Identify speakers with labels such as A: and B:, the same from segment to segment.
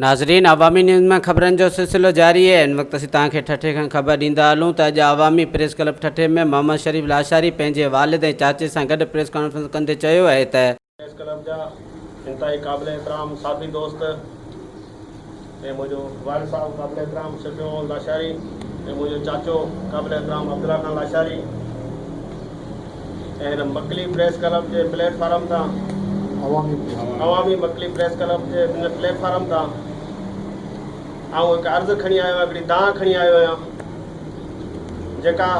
A: ناظرين عوامي نيوز مان خبرن جو سلسلو جاري اهي ان وقت اسين توهان کي ٺٽي کان خبر ڏيندا هلون ته اڄ عوامي پريس ڪلب ٺٽي ۾ محمد شريف لاشاري پنهنجي والد ۽ چاچي سان گڏ پريس ڪانفرنس ڪندي چيو اهي ته پريس ڪلب جا
B: انتهائي قابل احترام صحافي دوست ۽ منهنجو والد صاحب قابل احترام شفيع محمد لاشاري ۽ منهنجو چاچو قابل احترام عبدالله خان لاشاري ۽ هن مڪلي پريس ڪلب جي پليٽ فارم تان عوامي مڪلي پريس ڪلب جي هن پليٽ فارم تان آئون هڪ عرض کڻي آيو آهيان هڪڙي دانهن کڻي آيو آهيان جيڪا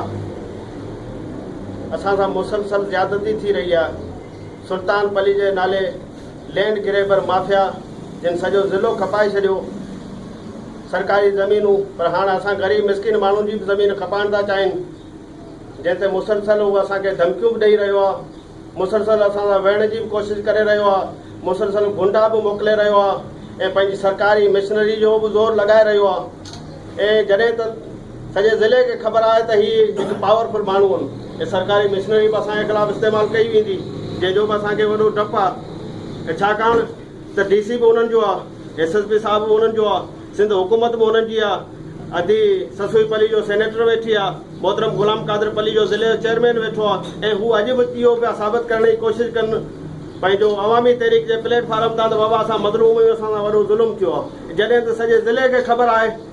B: اسان سان مسلسل زيادتي ٿي رهي آهي سلطان پلي جي نالي لينڊ گريبر مافيا جن سڄو ضلعو کپائي ڇڏيو سرڪاري زمينون پر هاڻ اسان غريب مسڪين ماڻهن جي به زمين کپائڻ ٿا چاهين جنهن تي مسلسل هو اسان کي ڌمڪيون به ڏئي رهيو آهي مسلسل اسان سان ويهڻ جي به ڪوشش ڪري رهيو آهي مسلسل گنڊا به موڪلي رهيو آهي ۽ پنهنجي سرڪاري مشنري جو به زور لڳائي رهيو آهي ۽ جڏهن ته سڄي ضلعي کي خبر آهي ته هي هڪ پاور فل ماڻهو هن کي سرڪاري مشنري به اسان جي خلاف استعمال ڪئي ويندي جنهن جو به اسان کي وڏو ڊپ آهي ڇاڪاڻ ته ڊي سي به انهن جو آهي ايس ايس پي صاحب به انهن جو آهي سنڌ حڪومت به انهن جي آهي ادي سسوئي پلي جو سينيٽر ويٺي آهي محترم غلام قادر پلي جو ضلعي جو چيئرمين ويٺو آهي ۽ هو اڄ به اهو پيا ثابت ڪرڻ جي ڪوشش ڪن پنهنجو عوامي تحريڪ جي پليٽ فارم تان ته بابا اسان مظلوم آهيون اسان سان وڏو ظلم ٿيو آهي جڏهن ته سڄي ضلعي کي خبر آهي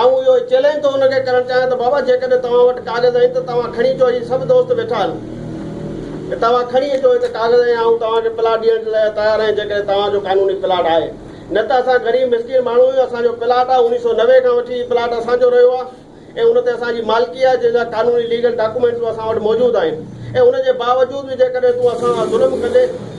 B: آئون اهو چئلينج ٿو هن کي ڪرڻ چاهيان ته بابا جيڪڏهن توهان وٽ ڪاغذ آهن ته توهان کڻي اچو هي سڀ دوست ويٺا آهن ته توهان کڻي اچو هت ڪاغذ ۽ آئون توهان کي پلاٽ ڏيڻ جي لاء تيار آهيان جيڪڏهن توهان جو قانوني پلاٽ آهي نه ته اسان غريب مسڪين ماڻهو آهيون اسان جو پلاٽ آهي اڻيهه سؤ نوي کان وٺي هي پلاٽ اسان جو رهيو آهي ۽ ان تي اسان جي مالڪي آهي جنهن جا قانوني ليگل ڊاڪومينٽس به اسان وٽ موجود آهن ۽ ان جي باوجود به جيڪڏهن تون اسان سان ظلم ڪندين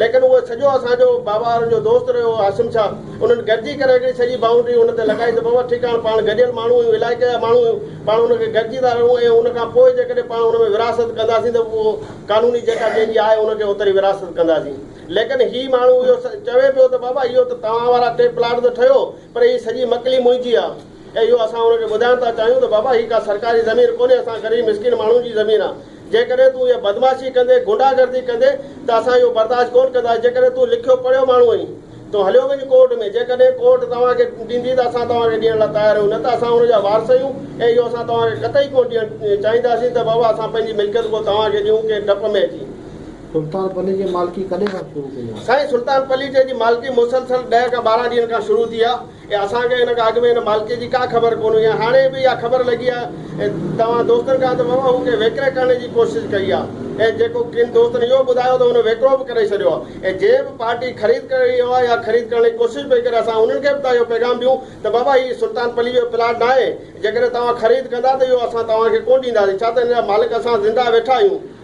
B: ليڪن اهو سڄو اسان جو باوهارن جو دوست رهيو هو عاصم شاهه. انهن گڏجي ڪري هڪڙي سڄي بائونڊري ان تي لڳائي ته بابا ٺيڪ آ هاڻ پاڻ گڏيل ماڻهو آهيون علائقي جا ماڻهو آهيون پاڻ ان کي گڏجي ٿا رهون ۽ ان کان پوء جيڪڏهن پاڻ ان ۾ ورهاست ڪنداسين ته اهو قانوني جيڪا جنهن جي آهي ان کي اوتري ورهاست ڪنداسين ليڪن هي ماڻهو اهو چوي پيو ته بابا اهو ته توهان وارا ٽي پلاٽ ته ٺهيو پر هي سڄي مڪلي منهنجي آ. اهو اسان هن کي ٻڌائڻ ٿا چاهيون ته بابا هي ڪا سرڪاري زمين ڪونهي اسان غريب مسڪين ماڻهن جي زمين آ جيڪڏهن تون اها بدمعاشي ڪندي غنڊا گردي ڪندي ته اسان اهو برداشت ڪونه ڪنداسين جيڪڏهن تون لکيو پڙهيو ماڻهو آهين تون هليو وڃ ڪورٽ ۾ جيڪڏهن ڪورٽ توهان کي ڏيندي ته اسان توهان کي ڏيڻ لاء تيار آهيون نه ته اسان هن جا وارث آهيون ۽ اهو اسان توهان کي قطعي ڪونه ڏيڻ چاهينداسين ته بابا اسان پنهنجي ملڪيت ڪو توهان کي ڏيون ڪنهن ڊپ ۾ اچي. سلطان پلي
C: جي مالڪي ڪڏهن کان شروع ڪئي آهي؟ سائين سلطان پلي جي
B: جي مالڪي مسلسل ڏهه کان ٻارهن ڏينهن کان شروع ٿي آ ۽ اسان کي ان کان اڳ ۾ ان مالڪي جي ڪا خبر ڪونه هئي ۽ هاڻي به اها خبر لڳي آهي ۽ توهان دوستن کان ته ووهه کي ويڪري ڪرڻ جي ڪوشش ڪئي آهي ۽ جيڪو ڪن دوستن اهو ٻڌايو ته هن ويڪرو به ڪري ڇڏيو آهي ۽ جنهن به پارٽي خريد ڪري رهيو آهي يا خريد ڪرڻ جي ڪوشش پئي ڪري اسان انهن کي به ته اهو پيغام ڏيون ته بابا هي سلطان پليء جو پلاٽ ناهي جيڪڏهن توهان خريد ڪندا ته اهو اسان توهان کي ڪونه ڏينداسين ڇا ته ان جا مالڪ اسان زنده ويٺا آهيون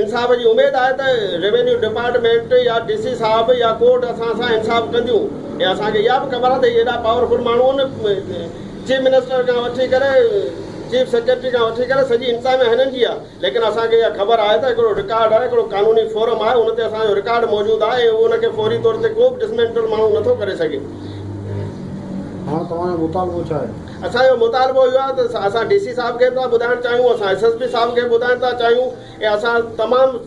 B: انصاف جي اميد آهي ته روينيو ڊپارٽمينٽ يا ڊي سي صاحب يا ڪورٽ اسان سان انصاف ڪنديون ۽ اسان کي اها به خبر آهي ته هي ايڏا پاور فل ماڻهو آهن چيف منسٽر کان وٺي ڪري چيف سيڪريٽري کان وٺي ڪري سڄي انتظاميا هنن جي آهي ليڪن اسان کي اها خبر آهي ته هڪڙو رڪارڊ آهي هڪڙو قانوني فورم آهي ان تي اسان جو رڪارڊ موجود آهي ۽ ان کي فوري طور تي ڪو به ڊسمينٽل ماڻهو نٿو ڪري سگهي.
C: هاڻ توهان جو مطالبو ڇا آهي؟ اسان جو مطالبو اهو آهي
B: ته اسان ڊي سي صاحب کي به ٿا ٻڌائڻ چاهيون، اسان ايس ايس پي صاحب کي به ٻڌائڻ ٿا چاهيون ۽ اسان تمام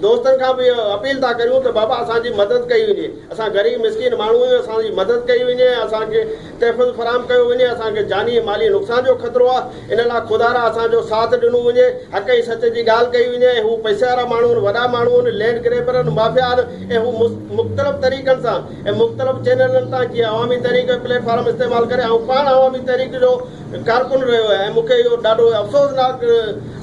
B: دوستن کان به اها اپيل ٿا ڪريون ته بابا اسان جي مدد ڪئي وڃي، اسان غريب مسڪين ماڻهو آهيون اسان جي مدد ڪئي وڃي ۽ اسان کي تحفظ فراهم ڪيو وڃي، اسان کي جاني ۽ مالي نقصان جو خطرو آهي، ان لاء خدارا اسان جو ساٿ ڏنو وڃي، حق ۽ سچ جي ڳالهه ڪئي وڃي ۽ هو پئسي وارا ماڻهو آهن، وڏا ماڻهو آهن، لينڊ گريبر آهن، مافيا آهن ۽ هو مختلف طريقن سان ۽ مختلف چينلن تان جيئن عوامي تحريڪ جو پليٽ فارم استعمال ڪري آئون پاڻ عوامي تحريڪ جو ڪارڪن رهيو آهيان ۽ مون کي اهو ڏاڍو افسوسناڪ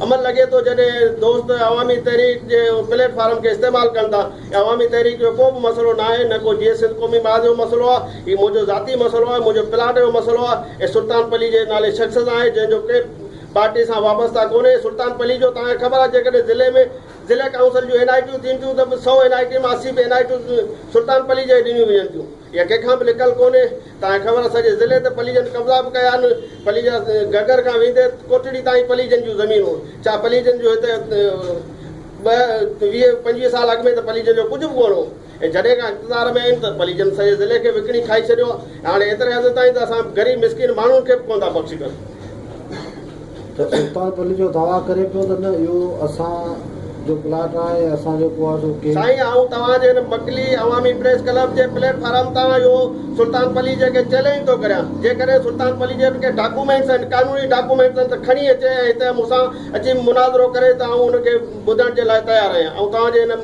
B: عمل لڳي ٿو جڏهن دوست عوامي تحريڪ جي پليٽ فارم کي استعمال ڪن ٿا ۽ عوامي تحريڪ جو ڪو به مسئلو ناهي نه ڪو جيئي سنڌ قومي محاذ جو مسئلو آهي هي منهنجو ذاتي مسئلو آهي منهنجو پلاٽ جو مسئلو آهي ۽ سلطان پلي جي نالي شخص سان آهي جنهن جو ڪنهن پارٽي سان وابسته ڪونهي سلطان پلي جو توهان کي خبر آهي جيڪڏهن ضلعي ۾ ضلعي ڪائونسل جون اين آء ٽيون ٿين ٿيون ته به سؤ اين آء ٽي مان اسي به اين آء ٽيون سلطان پليجي کي ڏنيون وڃن ٿيون. اها ڪنهن کان به لڪل ڪونهي. توهان کي خبر آهي سڄي ضلعي تي پليجن قبضا به ڪيا آهن. پليجا گهگهر کان ويندي ڪوٽڙي تائين پليجن جون زمينون ڇا پليجن جون هتي ٻه ويهه پنجويهه سال اڳ ۾ ته پليجن جو ڪجهه به ڪونه هو. اهي جڏهن کان اقتدار ۾ آهن ته پليجن سڄي ضلعي کي وڪڻي کائي ڇڏيو آهي ۽ هاڻي ايتري حد تائين ته اسان غريب مسڪين ماڻهن کي به ڪونه ٿا بخشي سگهن.
C: ته سلطان پليجو دعويٰ ڪري پيو ته نه اهو اسان جو پلاٽ آهي ۽ اسان جو ڪو آهي سو ڪي. سائين آئون توهان جي هن
B: مڪلي عوامي پريس ڪلب جي پليٽ فارم تان اهو سلطان پليجي کي چئلينج ٿو ڪريان جيڪڏهن سلطان پليجي وٽ ڪي ڊاڪومينٽس آهن قانوني ڊاڪومينٽس آهن ته کڻي اچي ۽ هتي مون سان اچي مناظرو ڪري ته آئون ان کي ٻڌڻ جي لاء تيار آهيان آئون توهان جي هن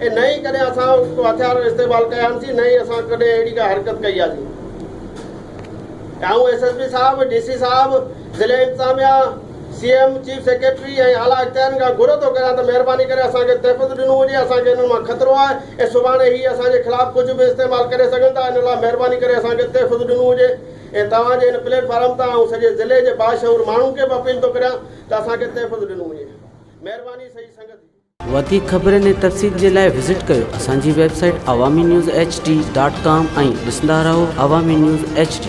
B: ۽ نه ئي ڪڏهن اسان ڪو هٿيار استعمال ڪيا آهن سين نه ئي اسان ڪڏهن اهڙي ڪا حرڪت ڪئي آهي سين آئون ايس ايس پي صاحب ڊي سي صاحب ضلعي انتظاميا سي ايم چيف سيڪريٽري ۽ اعليٰ اختيارين کان گهر ٿو ڪريان ته مهرباني ڪري اسان کي تحفظ ڏنو وڃي اسان کي انهن مان خطرو آهي ۽ سڀاڻي هي اسان جي خلاف ڪجهه به استعمال ڪري سگهن ٿا ان لاء مهرباني ڪري اسان کي تحفظ ڏنو وڃي ۽ توهان جي هن پليٽ فارم تان آئون سڄي ضلعي جي باشعور ماڻهن کي به اپيل ٿو ڪريان ته اسان کي تحفظ ڏنو وڃي مهرباني سڄي سنگت جي وڌيڪ خبرن ۽
A: تفصيل جي لاء وزٽ ڪيو اسان جي website Awami news H D dot com ۽ ڏسندا رهو عوامي نيوز ايڇ ڊي